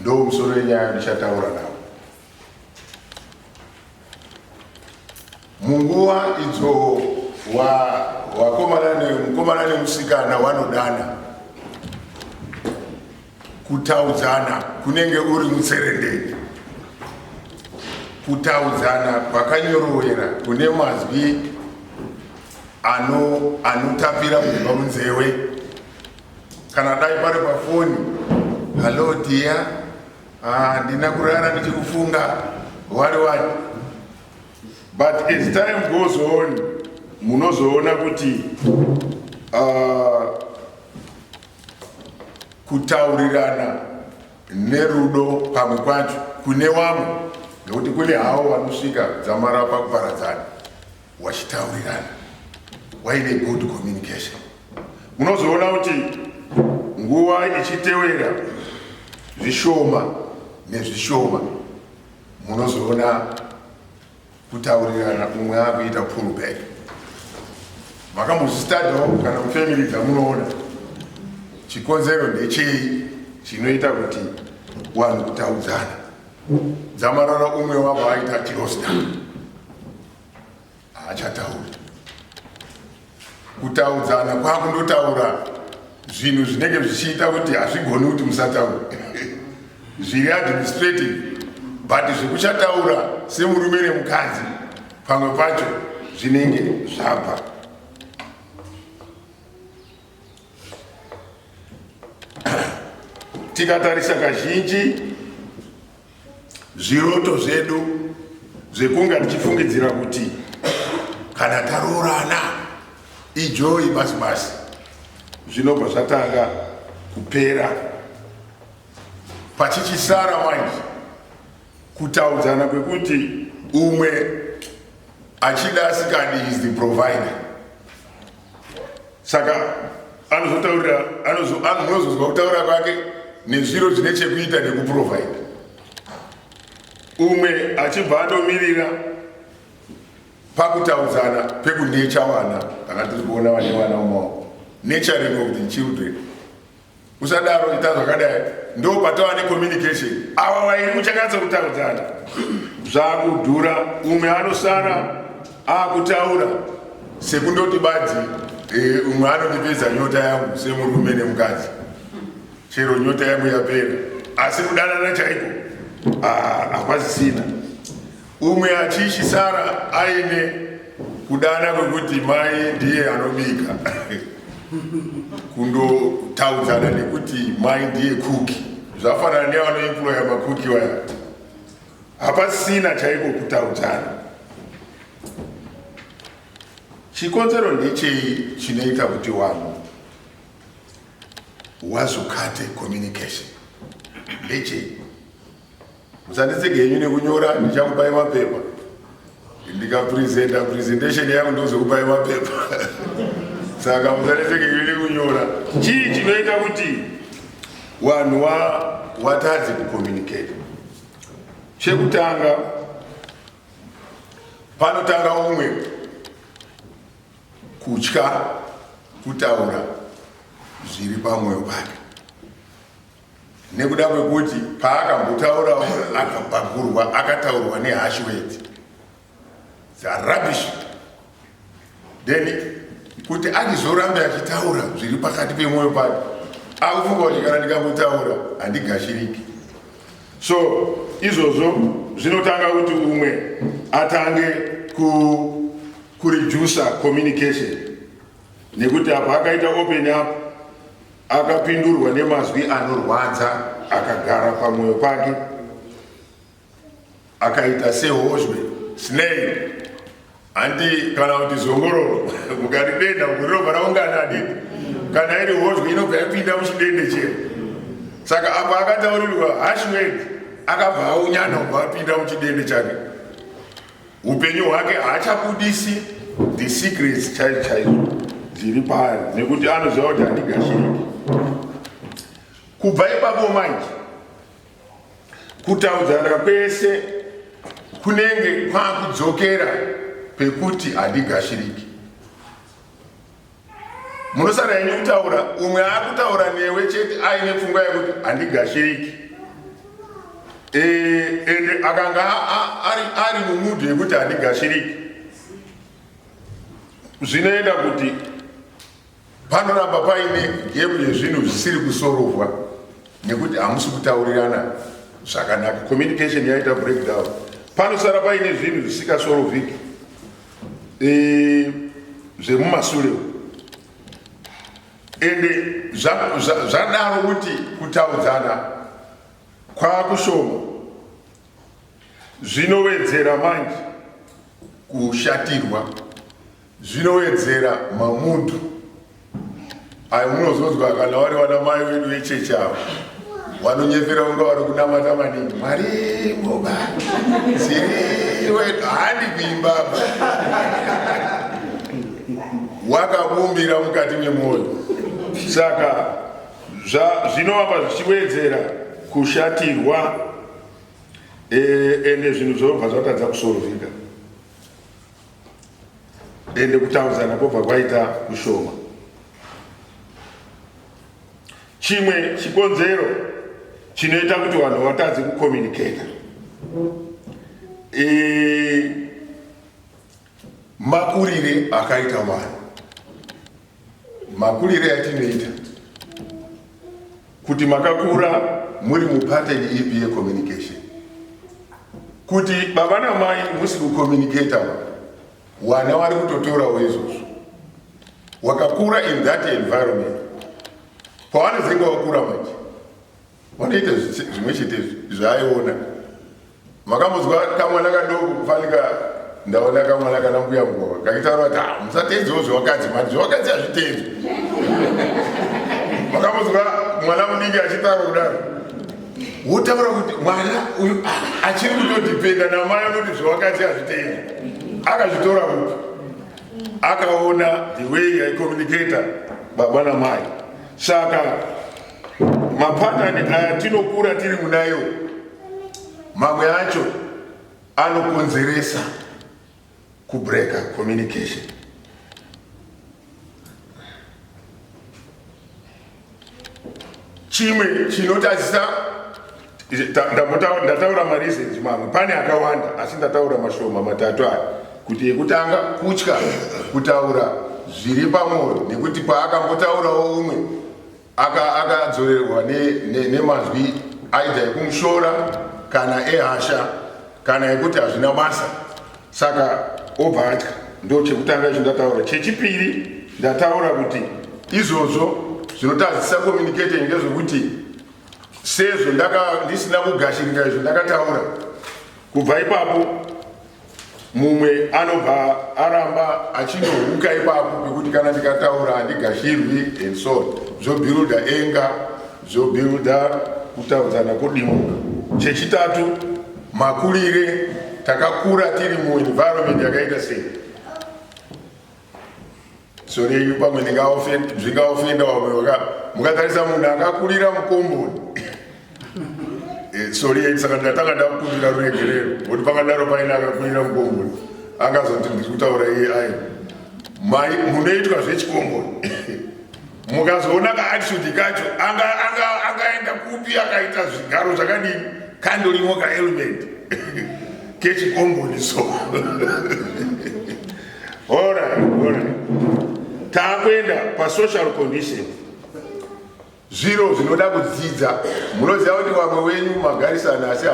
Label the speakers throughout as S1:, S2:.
S1: Ndo musoro yenyaya ndichataura nawo. Munguva idzo wakomana ne mukomana nemusikana wanodana kutaudzana kunenge uri mutserendende kutaudzana kwakanyorowera kune mazwi anotapira kubva munzewe kana dai pari pafoni hallo dia ah, ndina kurara ndichikufunga wari wani but as time goes on munozoona kuti uh, kutaurirana nerudo pamwe kwacho kune wamwe nekuti kune hawo vanosvika dzamara pakuparadzana wachitaurirana waine good communication munozoona kuti nguva ichitewera zvishoma nezvishoma munozoona kutaurirana umwe akuita pull back makambozvistadawo kana mufamily dzamunoona chikonzero ndechei chinoita kuti wanhu kutaudzana dzamarara umwe wavo aita tirosta haachatauri kutaudzana kwakundotaura zvinhu zvinenge zvichiita kuti hazvigoni kuti musataura zviri administrative but zvekuchataura semurume nemukadzi pamwe pacho zvinenge zvabva tikatarisa kazhinji zviroto zvedu zvekunga tichifungidzira kuti kana taroorana ijoyi basi basi zvinobva zvatanga kupera pachichisara manje kutaudzana kwekuti umwe achida asikadi is the provider saka anozotaurira anozozwa kutaura kwake nezviro zvine chekuita nekuprovaida umwe achibva andomirira pakutaudzana pekunecha vana kana tiri kuona vane vana umaoko nechering of the children Usadaro ita zvakadai ndo patava ne communication. Awa wairi muchakatsa kutaudzana. Zvakudhura umwe anosara akutaura sekundoti badzi eh, umwe anondipedza nyota yangu semurume nemukadzi. Chero nyota yangu yapera asi kudanana chaiko ah, hakwazisina. Umwe achisara aine kudana kwekuti mai ndiye anobika kundotaudzana nekuti mai ndiye kuki zvafanana nevanoemploya makuki waya hapasina chaiko kutaudzana chikonzero ndechei chinoita kuti wanhu wazokate communication ndechei Musanditsege henyu nekunyora ndichakupai mapepa ndikapresenta presentation yangu ndozokupai mapepa saka musanditsege henyu nekunyora chii chinoita kuti vanhu watadze kucommunicate chekutanga panotanga umwe kutya kutaura zviri pamwoyo pake nekuda kwekuti paakambotaurawo akabhagurwa akataurwa nehash words dzarubbish then kuti andizorambe achitaura zviri pakati pemwoyo pake akufunga kuti kana ndikambotaura handigashiriki so izvozvo zvinotanga kuti umwe atange ku kureducer communication nekuti apa akaita open up Akapindurwa nemazwi anorwadza akagara pamwoyo pake akaita sehozhwe snail handi kana kuti zongororo mukaridenda mukurirova raungana adidi kana iri hozhwe inobva yapinda muchidende chero saka apo akataurirwa hashwed akabva aunyana ubva apinda muchidende chake upenyu hwake haachabudisi the secrets chaizo chaizo dziri paari nekuti anoziva kuti handigashiriki kubva ipapo manje kutaudzana kwese kunenge kwakudzokera pekuti handigashiriki munosara henyu kutaura umwe akutaura newe chete aine pfungwa yekuti handigashiriki e, ende akanga ari mumudu yekuti handigashiriki zvinoenda kuti panoramba paine gepu yezvinhu zvisiri kusorovwa nekuti hamusi kutaurirana zvakanaka communication yaita breakdown panosara paine zvinhu zvisikasorovhiki eh, zvemumasure uko ende zvadaro kuti kutaudzana kwakushoma zvinowedzera manje kushatirwa zvinowedzera mamudu Ayo munozonzwa kana wari wana mai wedu vechechi avo vanonyepera kunga vari kunamata maningi mwari moba siri wedu handi kuimba apa wakabumbira mukati memwoyo saka zvinovamba zvichiwedzera kushatirwa eh, ende zvinhu zvinobva zvatadza kusorovhika ende kutaudzana kwobva kwaita kushoma. Chimwe chikonzero chinoita kuti vanhu vatadze kukomuniketa makurire akaita vanhu Makurire atinoita kuti makakura muri mupateni ipi yecommunication kuti baba namai musi kucommunicata wana wari kutotorawo izvozvo wakakura in that environment pawanozenge wakura manje wanoita zvimwe chete zvaayiona Makambonzwa kamwana kadoko kufanika ndaona kamwana kana mbuya mukova kakitaura kuti ah, musateedzewo zvevakadzi mati zvevakadzi hazviteedzwe makambonzwa mwana mudiki achitaura kudaro wotaura kuti mwana uyu ah, achiri kutodipenda namai anoti zvevakadzi hazviteedzwe akazvitora kuti akaona the way yaicommunicator baba namai saka Mapatani aya tinokura tiri munayo, mamwe acho anokonzeresa kubreka communication. Chimwe chinotadzisa ndataura mareasons mamwe pane akawanda asi ndataura mashoma matatu aya kuti yekutanga kutya kutaura zviri pamwoyo nekuti paakambotaurawo umwe akadzorerwa nemanzwi aida ekumushora kana ehasha kana yekuti hazvina basa saka obva atya ndo chekutanga icho ndataura chechipiri ndataura kuti izvozvo zvinotadzisa communicating ndezvekuti sezvo ndisina kugashirika izvo ndakataura kubva ipapo mumwe anobva aramba achinohuka ipapo pekuti kana ndikataura handigashirwi and so zvobuilda enga zvobuilda kutaudzana kodimuka chechitatu makurire takakura tiri muenvironment yakaita sei sori yenyu pamwe ndingaofenda vamwe mukatarisa munhu akakurira mukomboni eh, sori yenyu saka ndatanga ndakukumbira ruregerero kuti pangadaro paine akakurira mukomboni angazoti ndiri kutaura iye ai mai munoitwa zvechikomboni mukazoona kaatisudi kacho angaenda kupi akaita zvigaro zvakadini kandorimo kaelement kechikomboniso takuenda pasocial condition zviro zvinoda kudzidza munoziva kuti vamwe wenyu magarisana asi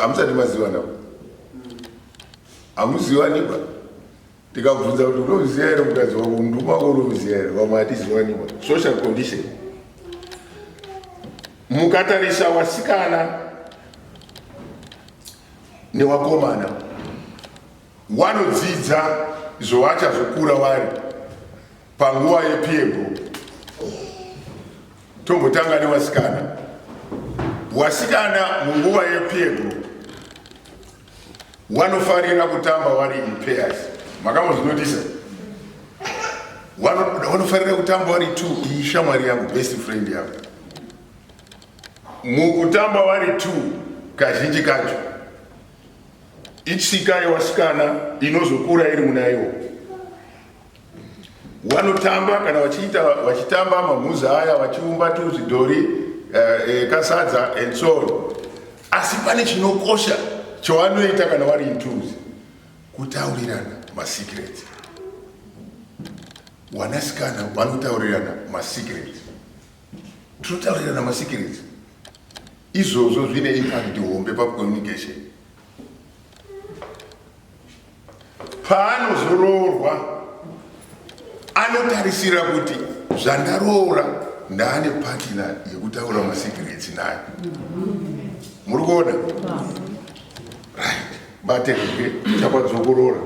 S1: hamusati mazivana hamuzivanikwa tikabvunza kuti unoziva here mukadzi wako mundumi wako unoziva here vamwe hatizivaniwa social condition mukatarisa wasikana newakomana wanodzidza zvovachazokura wari panguva yepiego tombotanga newasikana wasikana munguva yepiego Wanofarira kutamba wari in pairs. Makambozvinotisa? Wanofarira kutamba wari two, iyi shamwari yangu, best friend yangu. Mukutamba wari two kazhinji kacho itsika yewasikana inozokura iri munaiwo Wanotamba kana wachiita wachitamba mamhuza aya wachiumba tuzvidhori eh, eh, kasadza and so on. Asi pane chinokosha chawanoita kana wari intuzi kutaurirana masecrets. Wanasikana vanotaurirana masecrets. Tinotaurirana masecrets. Izvozvo zvine impact hombe pa communication. paanozoroorwa anotarisira kuti zvandaroora ndaane patina yekutaura masekiritsi nayo muri kuona batekoke chakwadzokorora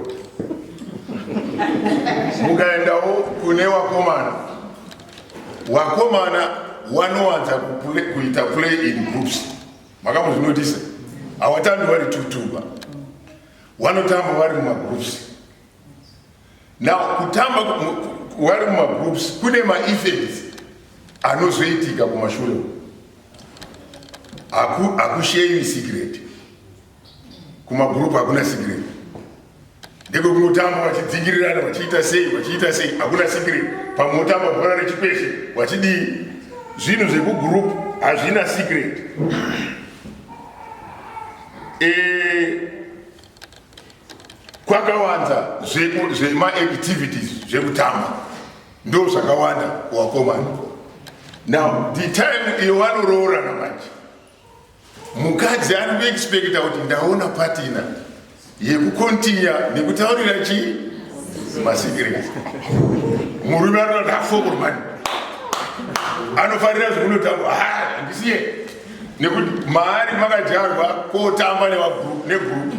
S1: mukaendawo kune wakomana wakomana wanowanza kuita play in groups makambozvinotisa hawatambi vari tutuba wanotamba vari mumagroups now kutamba wari mumagroups kune maeffects anozoitika kumashure hakusheyi secret kumagroup hakuna secret Ndekwekungotamba wachidzikirirana wachiita sei wachiita sei hakuna sikireti pamwe wotamba bhora rechikweshe wachidii zvinhu zvekugurupu hazvina sikireti eh, kwakawanza zvemaactivities zvekutamba ndo zvakawanda wakomana now the time iyo vanoroorana manje Mukadzi ari kuexpecta kuti ndaona patina yekukontinya nekutaurira chii masikirei murume anoda hafokurumani anofanira zvekunotamba handisiye nekuti maari makadyarwa kotamba negurupu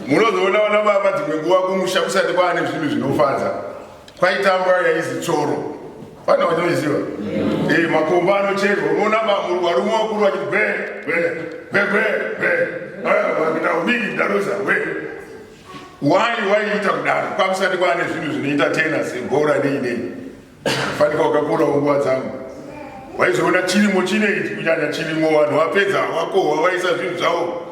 S1: munozoona vana baba dzimwe nguva kumusha kusati kwaane zvinhu zvinofadza Kwaitambwa yaizi tsoro. Vana vanoiziva. Mm. Eh, makomba anocherwa. Unoona bamuru warume wakuru vachiti bwe bwe bwe bwe bwe. Ah, vakita ubiki daroza we. Why why ita kudaro? Kwakusati kwane zvinhu zvinoita tena segora nei nei. Fanika wakakura nguva dzangu. Waizoona chirimo chine ichi kunyanya chirimo vanhu vapedza wakohwa vaisa zvinhu zvavo.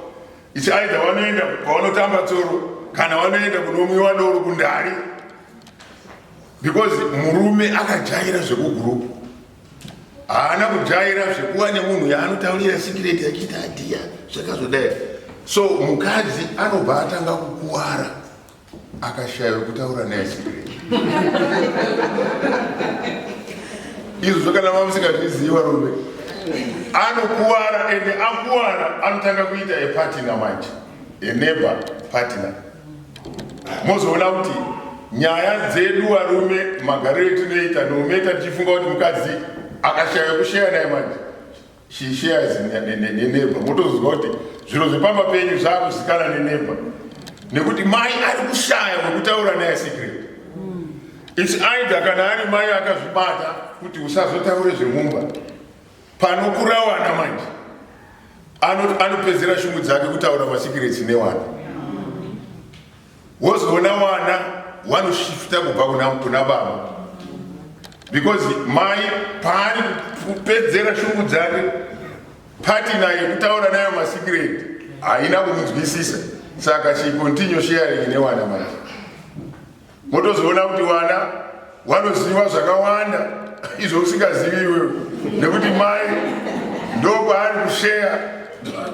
S1: It's either wanoenda kwavanotamba tsoro kana wanoenda kunomwiwa doro kundari because murume akajaira zvekugurupu haana kujaira zvekuva nemunhu yaanotaurira sikireti achiita adiya zvakazodai so mukadzi anobva atanga kukuvara akashaya wekutaura naye secret izvo kana mamusingazvizivi varume anokuvara ende akuvara anotanga kuita epatina manje eneba patina mozoona kuti nyaya dzedu varume magariro etinoita noumeta tichifunga kuti mukadzi akashaya wekusheya naye manje She shares neneighbor motoziva kuti zviro zvepamba penyu zvakuzikanwa neneighbor nekuti mai ari kushaya wekutaura naye secret its either kana ari mai akazvibata kuti usazotaure zvemumba panokurawana manje anopedzera shungu dzake kutaura masecrets newana wozoona wana wanoshifta kubva kuna kuna baba because mai paari kupedzera shungu dzake pati naye kutaura nayo masikireti haina kumunzwisisa saka she continue sharing newana manje motozoona kuti wana Wanoziva zvakawanda izvo usingazivi iwewe nekuti mai ndokwaari kusheya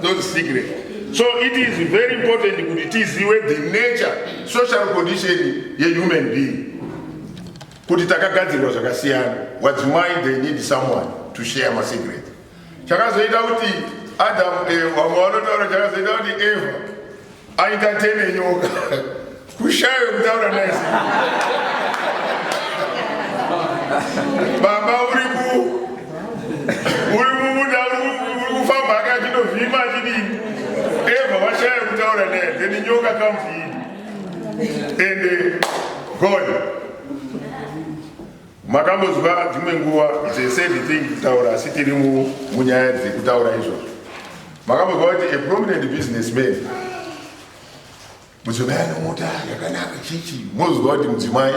S1: those secret so it is very important kuti tizive the nature social condition yehuman being kuti takagadzirwa zvakasiyana wadzimai they need someone to share masecret chakazoita kuti adam eh, vamwe vanotaura chakazoita kuti eva Aita tene nyoka. Kushaya kutaura naye. Baba uri ku uri mumuda uri kufamba akachinovhima chidini. Eva washaya kutaura naye. Then nyoka kamvini. Ende God. Makambozwa dzimwe nguva it's a sad thing kutaura asi tiri munyaya dzekutaura izvozvo. Makambozwa kuti a prominent businessman mudzimai anomota yakanaka chichi mozwa kuti mudzimai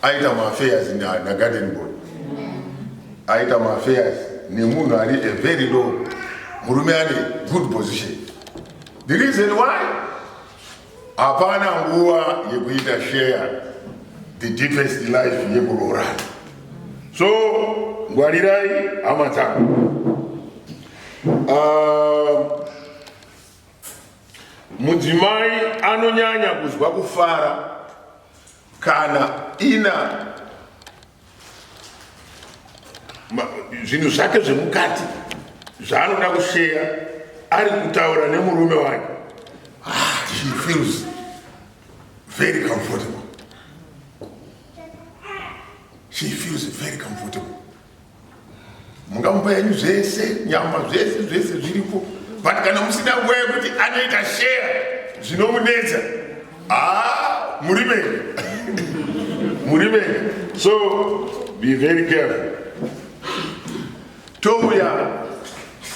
S1: aita maafairs nagarden boy aita maafairs nemunhu ari a very low murume ane good position the reason why Hapana nguva yekuita share the deepest life yekuroorana. So ngwarirai hama dzako. Uh, mudzimai anonyanya kuzwa kufara kana ina zvinhu zvake zvemukati zvaanoda kusheya ari kutaura nemurume wake ah, she feels very comfortable she feels very comfortable mungamupa yenyu zvese nyama zvese zvese zviripo but kana musina nguva yekuti anoita share zvinomunetsa haa muri venyu muri venyu so be very careful touya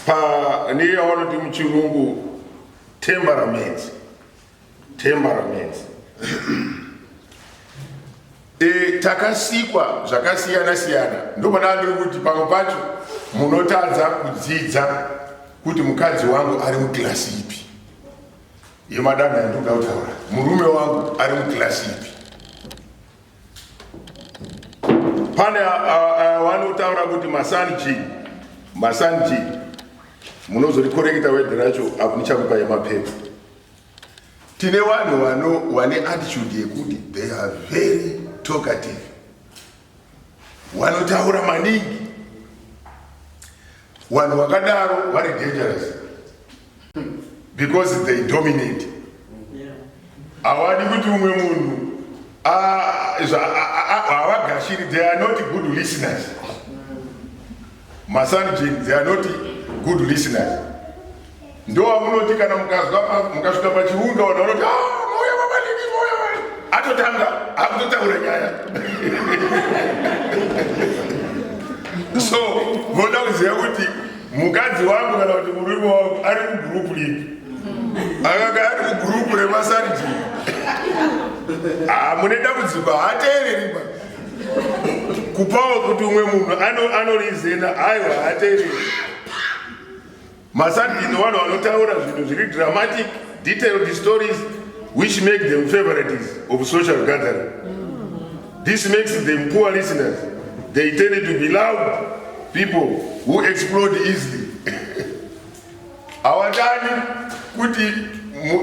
S1: pa neyawanoti muchirungu temperament Temperaments. e, takasikwa zvakasiyana siyana ndopada ndiri kuti pamwe pacho munotadza kudzidza kuti mukadzi wangu ari mukilasi ipi yemadanho yandikuda kutaura murume wangu ari mukilasi ipi pane wanotaura kuti masanji masanji munozorikoreketa wedhi racho apo ndichakupa yemapepa tine vanhu vano wane attitude yekuti they are very talkative wanotaura maningi vanhu vakadaro vari dangerous because they dominate hawadi kuti umwe munhu havagashiri they are not good listeners Masanjin, they are not good listeners. Ndowamunoti kana mukazwa mukasvika pachiundo vanhu vanoti ah, mauya vabalimi mauya vali atotanga akutotaura nyaya so voda kuziva kuti mukadzi wangu kana kuti murume wangu ari kugrupu lipi akanga ari kugrupu remasanjin hamune ah, dambudziko haateereri kupawo kuti umwe munhu anorizena ano aiwa hatereri masandino vanhu vanotaura zvinhu zviri dramatic detailed stories which make them favorites of social gathering this makes them poor listeners they tend to be loud people who explode easily hawatani kuti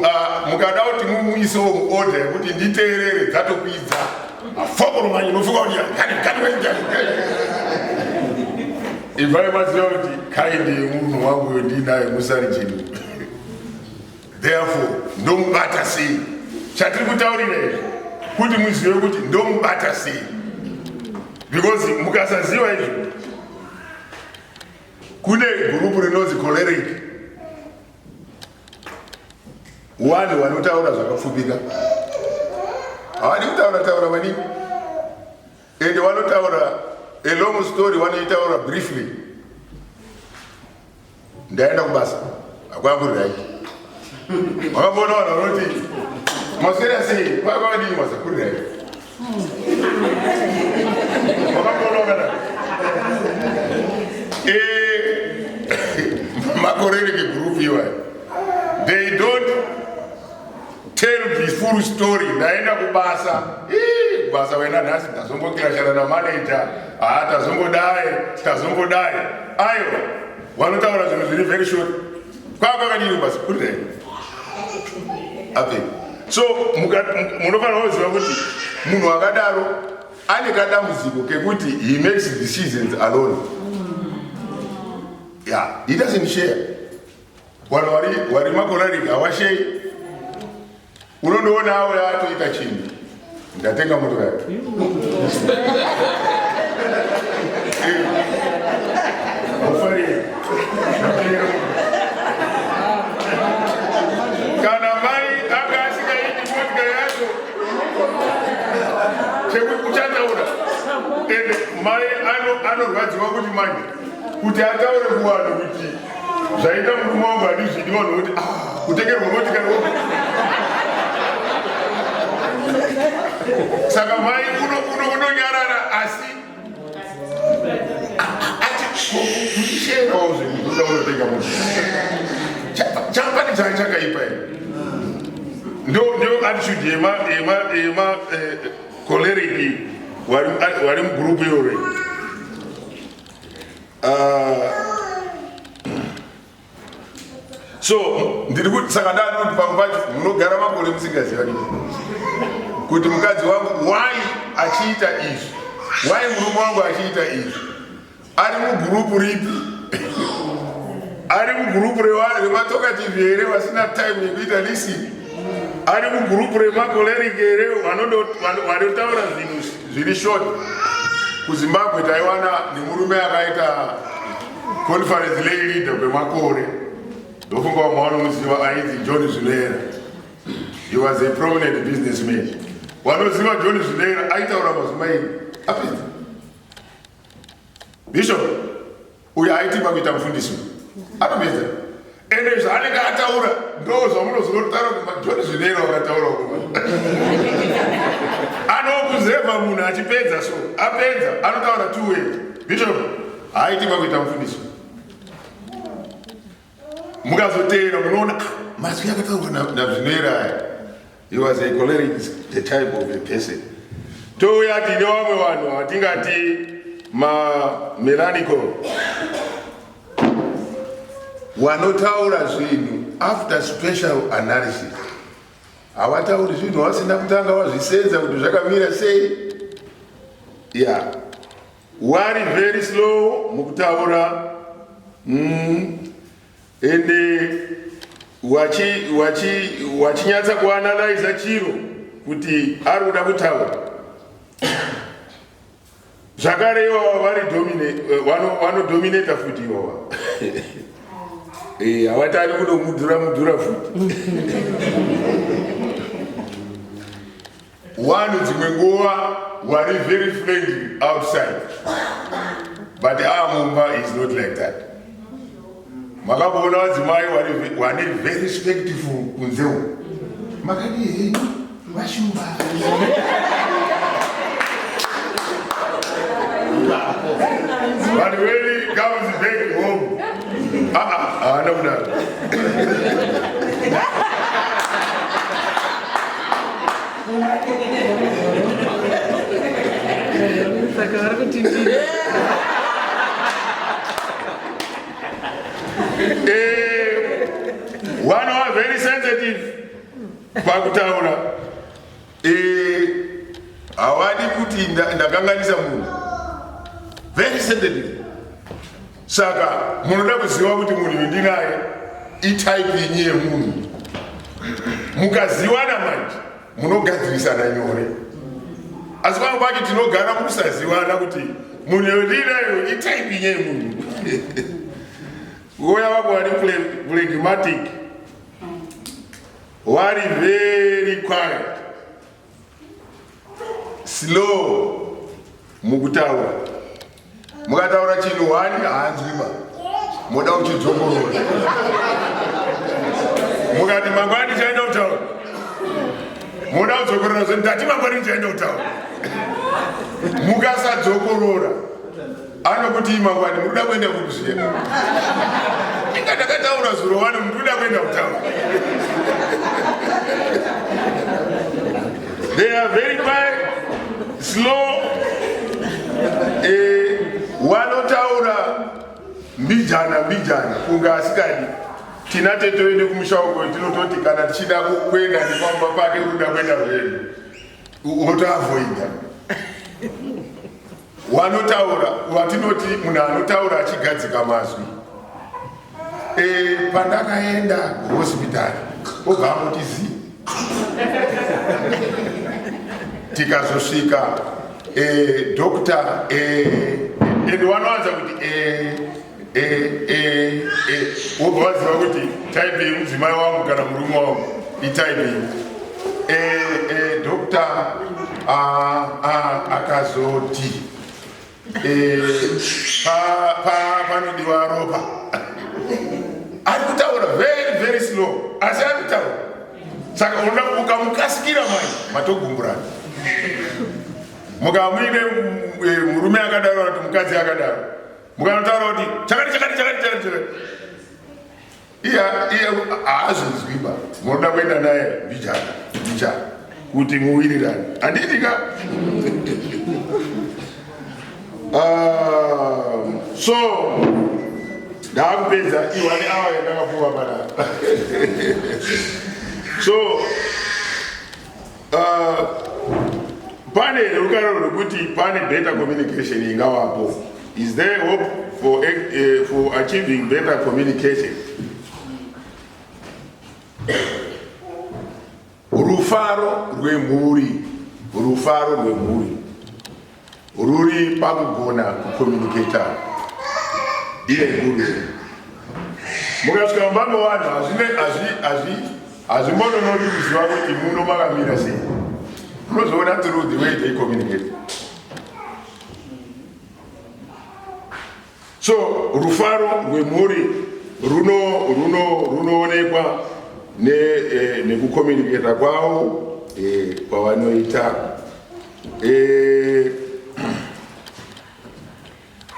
S1: ah, mukada kuti mumuisewo muoda yekuti nditeerere dzatokwidza afokoromanyi nofunga kuti ivai maziva kuti kaindi yemunhu wangu yondinaye musari chinhu therefore ndomubata sei chatiri kutaurira izvi kuti muzive kuti ndomubata sei because mukasaziva izvi Kune gurupu rinonzi choleric, wanhu wanotaura zvakapfupika, havadi kutaura taura maningi, ende wanotaura a long story, wanoitaura briefly. Ndaenda kubasa. Hakuna kuri right. Wakabona wana unoti maswera sei kwaya kwakadini masa kuri right. Wakabona wakada. Eh makorere ke group iwa. They don't tell the full story. Ndaenda kubasa. Eh kubasa wena nhasi ndazongokira shana na manager. Ah tazongodai, tazongodai. Ayo Wanotaura zvinhu zviri very short. Kwaa kwakadini basi kuri there. Ape. So munofanira kuziva kuti munhu akadaro ane kadambudziko kekuti he makes decisions alone. Yeah, he doesn't share. Wari wari makorari hawashei. unondoonawo yaatoita chinhu ndatenga moto yake kana mai anga asikaiti motika yacho chekuti uchataura ende mai anorwadziwa kuti manje kuti ataure kuvanhu kuti zvaita murume wangu handizvidi vanhu voti ah, kutengerwa motikari saka mai kuno kuno kunonyarara asi atisheaozve mukuda unotenga moti chapani chai chakaipa ino ndio ndio attitude yema yema yema eh, Koleriki wari mugrupu irore ah, so ndiri kuti saka ndanoti pamwe pacho munogara makore musingazivani kuti mukadzi wangu why achiita izvi why murume wangu achiita izvi ari mugurupu ripi ari mugurupu revanhu vematokativhi here vasina time yekuita lisini ari mugurupu remakoleriki here vanotaura zvinhu zviri short kuzimbabwe taiwana nemurume akaita conference lay leader kwemakore ndofunga vamwe vanomuziva ainzi john zvinera he was a prominent businessman wanoziva john zvinera aitaura mazuma ini apedza Bishop uyo aitimba kuita mufundisi anomedza ende zvaanenge ataura ndo zvamunozonotaura kumajoni zvinero akataura kuma anokuzeva munhu achipedza so apedza anotaura two way bishop haitimba kuita mufundisi mukazoteera munoona ah, mazwi akataurwa nazvinoera aya he was a choleric the type of a person touya tine vamwe vanhu hatingati mamelanical wanotaura zvinhu after special analysis hawatauri zvinhu wasina kutanga wazvisenza kuti zvakamira sei ya yeah. Wari very slow mukutaura mm. ende wachinyatsa kuanalyza chiro kuti ari kuda kutaura zvakare iwawa vari vanodominata eh, futi iwawa eh, hawatani kunomudhura mudhura futi One dzimwe nguva wari very friendly outside but amumba ah, is not like that. Makaboona vadzimai wane very respectful kunze uko. Makadii henyu vashumba. But when he comes back home aa haana kudaro saka vari kuti ndii Eh, vana wa very sensitive pakutaura Eh, hawadi kuti ndakanganisa munhu very sendedly. Saka munoda kuziva kuti munhu ndinaye itype yenyu yemunhu. Mukaziwana manje munogadzirisana nyore. Asi pamwe pacho tinogara mukusaziwana kuti munhu yondinayo itype yenyu yemunhu. Uya wako wari phlegmatic. Wari very quiet. Slow. Mukutaura. Mukataura chinhu wani haanzwima. Moda kuchidzongorora. Mukati mangwani chaenda kutaura. Moda kudzongorora zve ndati mangwani chaenda kutaura. Mukasadzokorora. anokuti mangwani muruda kuenda kupi zviya inga ndakataura zuro wani muruda kuenda kutaura they are very quiet slow eh, wanotaura mbijana mbijana kunga asikadi tina tete wende kumusha uko tinototi kana tichida kuenda nepamba pake unoda kuenda zvedu unotoavoida Wanotaura watinoti munhu anotaura achigadzika mazwi. E, pandakaenda kuhospitari obva angoti zii tikazosvika e, doctor e, and wanowanza kuti e, wobva waziva kuti type yemudzimai wangu kana murume wangu itype iyi dokta akazoti panodiwa ropa ari kutaura very very slow asi ari kutaura saka unoda kubuka mukasikira mai matogumburana mukamuine eh, murume akadaro kana kuti mukadzi akadaro mukanotaura kuti chakati chakati chakati chakati chakati iye iye haazvinzwiba munoda kuenda naye mbichana mbichana kuti muwirirane handiitika ah, so ndakupedza iwani awa yandakapuwa panapa so Uh, pane rukaro rwekuti pane better communication ingavapo is there hope for, uh, for achieving better communication rufaro rwemhuri rufaro rwemhuri Ruri pakugona kucommunicator iye guru mukasvika mumba mevanhu hazvimbononoki kuziva kuti muno makamira sei unozoona through the way they communicate So rufaro rwemhuri runoonekwa runo, runo eh, nekukominiketa ne kwavo eh, kwavanoita eh,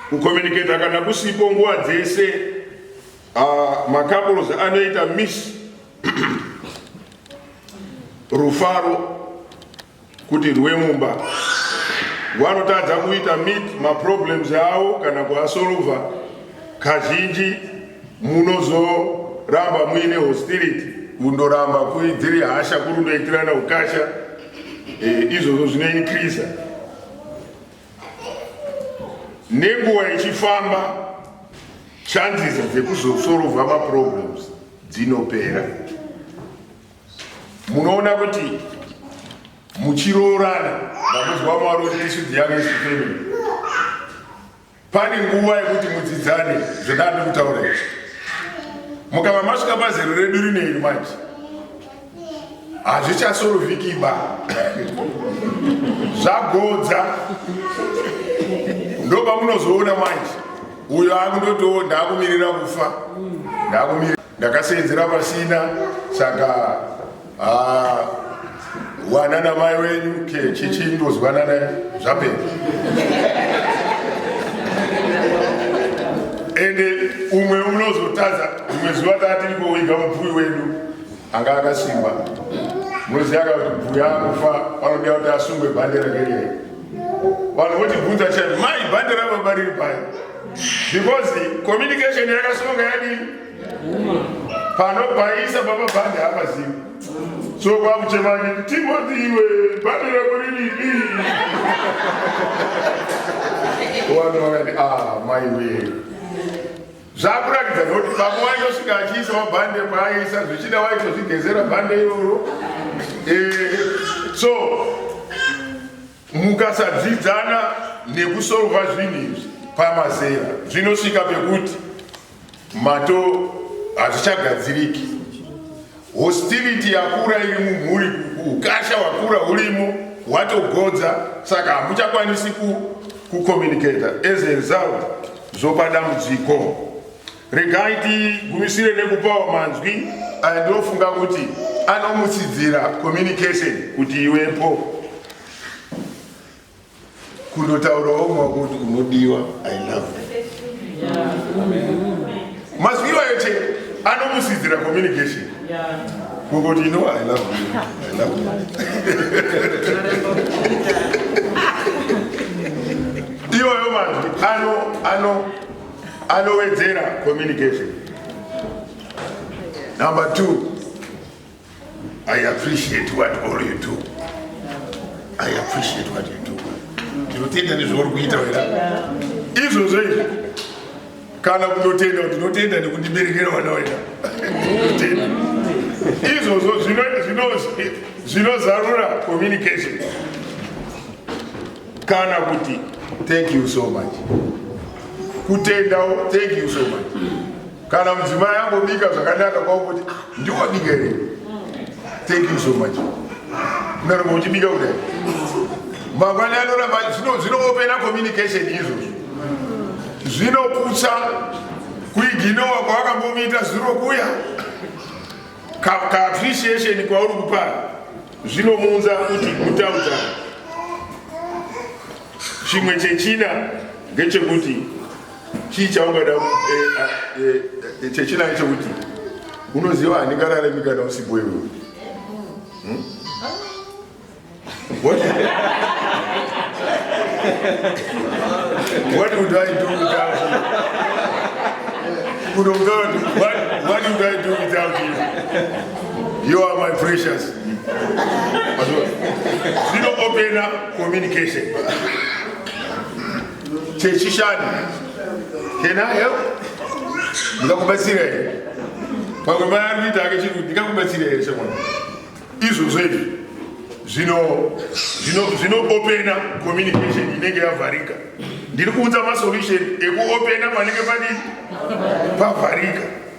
S1: kukominiketa kana kusipo nguva dzese ah, macouples anoita miss rufaro kuti rwemumba rwanotadza kuita meet maproblems avo kana kuasolva kazhinji munozoramba muine hostility kundoramba dziri hasha kuri kutoitirana ukasha eh, izvozvo zvinoinkriza nenguva ichifamba chances dzekuzosolva maproblems dzinopera munoona kuti muchiroorana ndakuzwa mwari kuti isu the youngest family pane nguva yekuti mudzidzane zvendandi kutaura izvi mukava masvika pazero redu rine iri manje hazvichasorovhikiba zvagodza ndopamunozoona manje uyo akundotoo ndakumirira kufa ndakumirira Ndakaseenzera pasina saka ah, wana namai wenyu ke chichi ndozwana naye zvapera. Ende umwe unozotadza umwe zuva tatiri kuwiga mubvuyi wedu anga akasimba munoziva ka kuti bvuya akufa vanoda kuti asungwe bhandera kerei vanhu votibvunza chai mai bhandera baba riri pai because communication yakasunga yadii panopaisa pamabhande hapazivi so kwakuchemanya timoti iwe bhande rako riripi wanu wakati a ah, mai wee zvakuratidza kuti baba waitosvika achiisa mabhande paaisa zvichida waitozvigezera bhande iroro eh, so Mukasadzidzana nekusolva zvinhu izvi pamazera zvinosvika pekuti mato hazvichagadziriki. Hostility yakura iri mumhuri, ukasha wakura urimo watogodza, saka hamuchakwanisi kucommunicata as a result zvopa dambudziko. Regai tigumisire nekupawo manzwi aya ndinofunga kuti anomutsidzira communication kuti iwepo kundotaurawo mwako kuti unodiwa i love mazwi iwayo che anomutsidzira communication kungoti you know i love you i love you iwayo manzwi ano ano anowedzera communication number two I appreciate what all you do. I appreciate what you do. Tinotenda nezvauri kuita wena. Izvozvo izvi kana kutotenda kuti tinotenda nekundiberekera vana wena. Tinotenda. Izvozvo zvinozarura communication. kana kuti thank you so much kutendawo thank you so much kana mudzimai ambobika zvakanaka kwakuti ah, ndiwabika here thank you so much unoramba uchibika kudai mangwani anoramba zvinoopena communication izvozvo zvinoputsa kuiginowa kwawakambomuita zvirokuya kaappreciation kwauri kupara Zvinomuunza kuti kutaudza chimwe chechina ngechekuti chii chaungada eh, eh, eh, chechina ngechekuti unoziva handingarare mikana usipo iwe hmm? What? what would I do without you? What, what would I do without you? You are my precious. Zero open up communication. Chechishan. Can I help? Ndikakubatsira here? Pamwe mai ari kuita ake chiri ndikakubatsira here semwana? Izvozvo izvi zvino zvino zvino open up communication inenge yavharika. Ndiri kuunza masolution ekuopena panenge padii? Pavharika.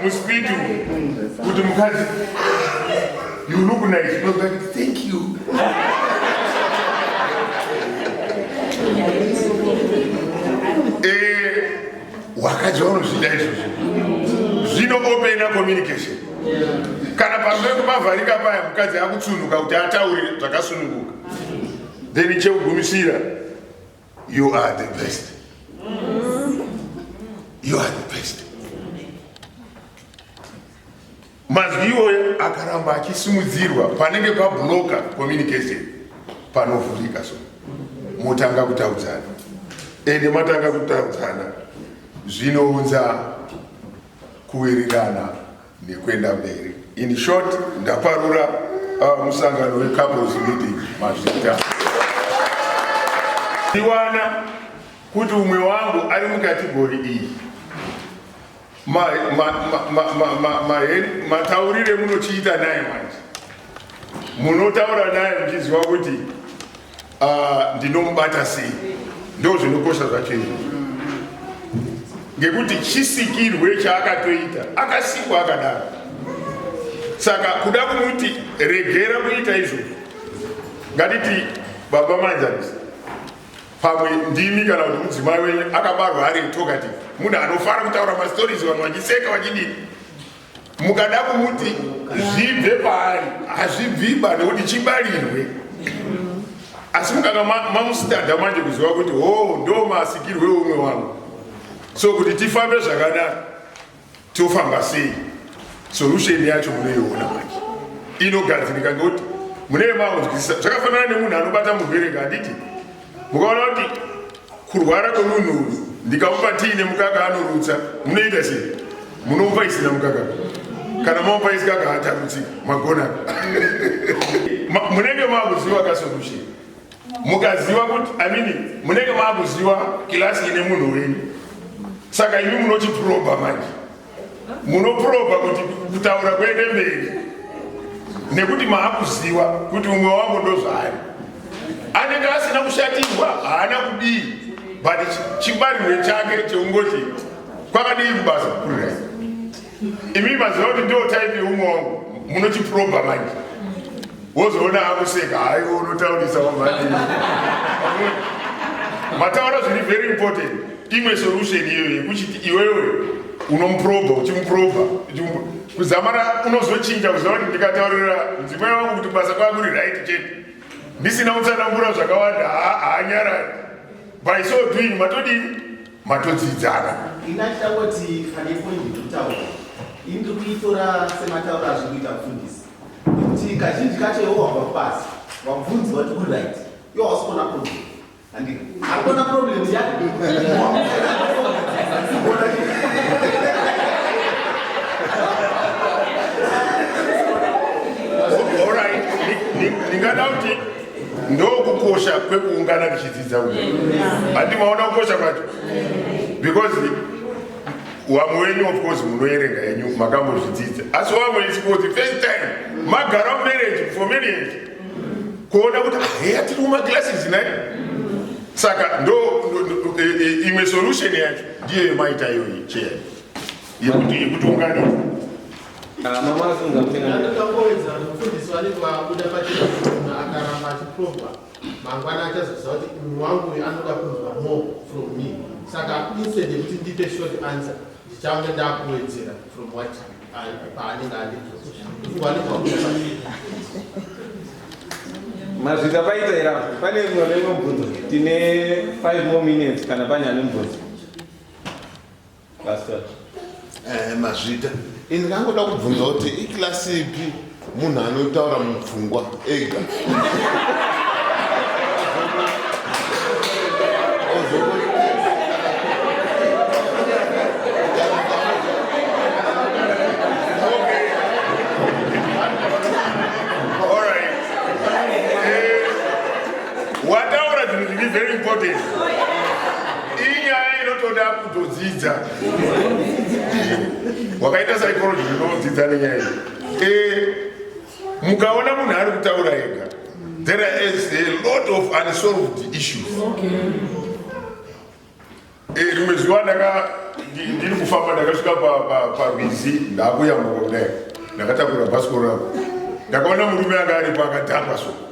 S1: Muspeed kuti mukadzi you look nice no that thank you eh wakadzi vanozvida izvozvo zvino opena communication kana pamwe kumavharika paya mukadzi akutsunuka kuti ataure zvakasununguka then chekugumisira You are the best. You are the best. Mazwi iwoyo akaramba achisimudzirwa panenge pabloka communication panovhurika so motanga kutaudzana ende matanga kutaudzana zvinounza kuwirirana nekuenda mberi. In short, ndaparura uh, musangano wecouples meeting mazvita ndiwana kuti umwe wangu ari mukategori iyi mataurire munochiita naye manje munotaura naye muchiziva kuti Ah, ndinomubata sei ndo zvinokosha zvacho izvo ngekuti chisikirwe chaakatoita akasikwa akadaro saka kuda kumuti regera kuita izvo ngatiti baba manjanisa pamwe ndimi kana kuti mudzimai wenyu akabarwa ari talkative munhu anofara kutaura mastories vanhu vachiseka vachidii mukada kumuti zvibve paari hazvibviba nekuti chibarirwe asi mukanga mamusitadha manje kuziva kuti ho oh, ndo masikirwe umwe wangu so kuti tifambe zvakanaka tofamba sei solution yacho munoiona manje inogadzirika ngekuti mune maunzwisisa zvakafanana nemunhu anobata murwere nganditi mukaona kuti kurwara kwemunhu uyu ndikamupa tii nemukaka anorutsa munoita sei munomupa isina mukaka kana mamupa isikaka hatarutsi magona munenge maakuziva kasolution mukaziva kuti amini munenge maakuziva kilasi ine munhu wenyu saka imi munochiproba manje munoprova kuti kutaura kuende mberi nekuti maakuziva kuti umwe wangu ndozvaari anenge asina kushatirwa haana kudii but chibarirwe chake cheungoti kwakadii kubasa kukurira imi maziva kuti ndo type yeumwe wangu munochiprova manje wozoona akuseka haiwo unotaurisa wamhanii mataura zviri very important imwe solution iyoyo yekuchiti iwewe unomuprobha uchimuprobha kuzamara unozochinja kuziva kuti ndikataurira mudzimai wangu kuti basa kwaa kuri right chete ndisina kutsanangura zvakawanda haanyarari by so doing matodii matodzidzana inachitangoti pane poindi ndikutaura ini
S2: ndiri kuitora sematauro azviri kuita mufundisi nekuti kazhinji kacho iwo wabva kubasa wabvunzi wati kuri right iwo hausi kuona problem
S1: Hakuna problem yake. ndingada kuti ndokukosha kwekuungana tichidzidza uyu hati maona kukosha kwacho because wamwe wenyu of course munoerenga yenyu makambozvidzidza asi wamwe isikuti first time magara mumarriage for marriage kuona kuti ah, heya tiri kumaglasses nai saka ndo e, e, imwe solution yacho ndiyo yemaita iyoyi cheya yekuti yekuti unganisa ah,
S3: mama afunga kuti ndakawedza mufundisi
S4: wale kwakuda pachena akaramba achiprova mangwana achazoziva kuti munhu wangu uyu anoda kunzwa more from me saka instead yekuti ndipe short answer ndichange ndakuwedzera from what you
S3: mazvita paita ira pane mwana inomubvunzo tine 5 more minutes kana pane ane mubvunzo pastor eh,
S5: mazvita ini ndangoda kubvunza kuti ikilasi ipi munhu anotaura mupfungwa ega
S1: wakaita psychology unodzidza nenyaya iyi Eh, mukaona munhu ari kutaura ega there is a lot of unsolved issues eh, rimwe zuva ndaka ndiri kufamba ndakasvika parwizi ndakuyambuka kudai ndakatakura bhasikoro rako ndakaona murume anga aripo akadhakwa so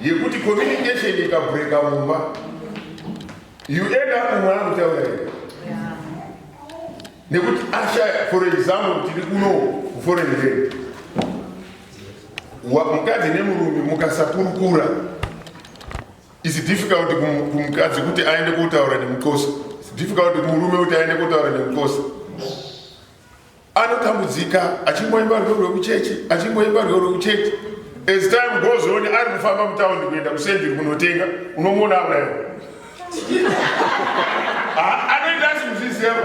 S1: yekuti communication ikabreaka mumba you end up mumwe anokutaura here nekuti ashaya for example tiri kuno kuforeign land mukadzi nemurume mukasakurukura its difficult kumukadzi kuti aende kotaura nemukosi its difficult kumurume kuti aende kotaura nemukosi anotambudzika achingoimba rwiyo rwekuchechi achingoimba rwiyo rwekuchechi as time goes on ari kufamba mutaundi kuenda kusendiri kunotenga unomuona aurayo anoita asi muzvizeva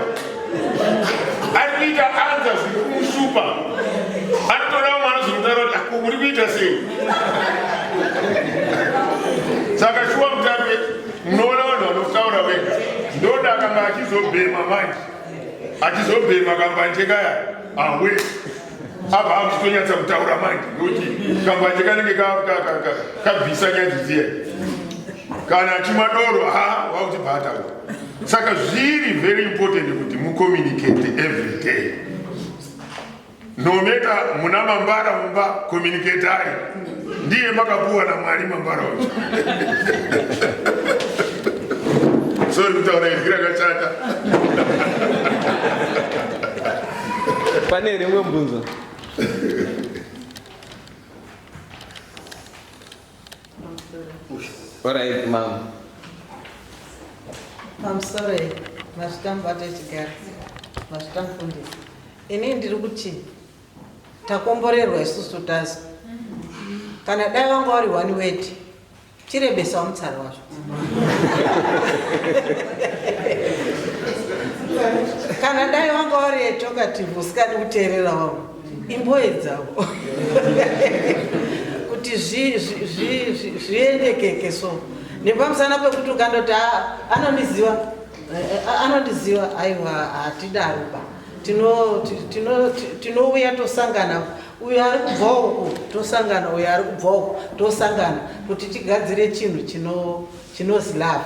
S1: ari kuita anza zviri kumushupa anotoda mwana zvinotaura kuti ako muri kuita sei saka shuwa mutape munoona vanhu vanotaura wega ndoda akanga achizobhema manje achizobhema kambanje kaya awe abva akutonyatsa kutaura manje nokuti kambanje kanenge kabvisa nyadzi dziya kana achimwa doro ha wakuti bhaataura saka zviri very important kuti mucommunicate every day Nometa muna mambara mumba communicatari ndiye makapuwa namwari mambara uyu sori kutaura izwi rakashata
S3: pane rimwe mbunzo orit mama mamsore
S6: mazvitambo atochigara mazvitamufundisi Ini ndiri kuti takomborerwa isusu tazi kana dai wanga wari one word chirebesawo mutsara wazvo kana dai wanga wari etokative usikadi kuteerera wavo imboye dzavo kuti zviendekeke so nepamusana pekuti ukandoti ah, anondiziva eh, eh, anondiziva aiwa hatidaroba tinouya tosangana uyo ari kubva uku tosangana uyo ari kubva uku tosangana kuti tigadzire chinhu chinozi love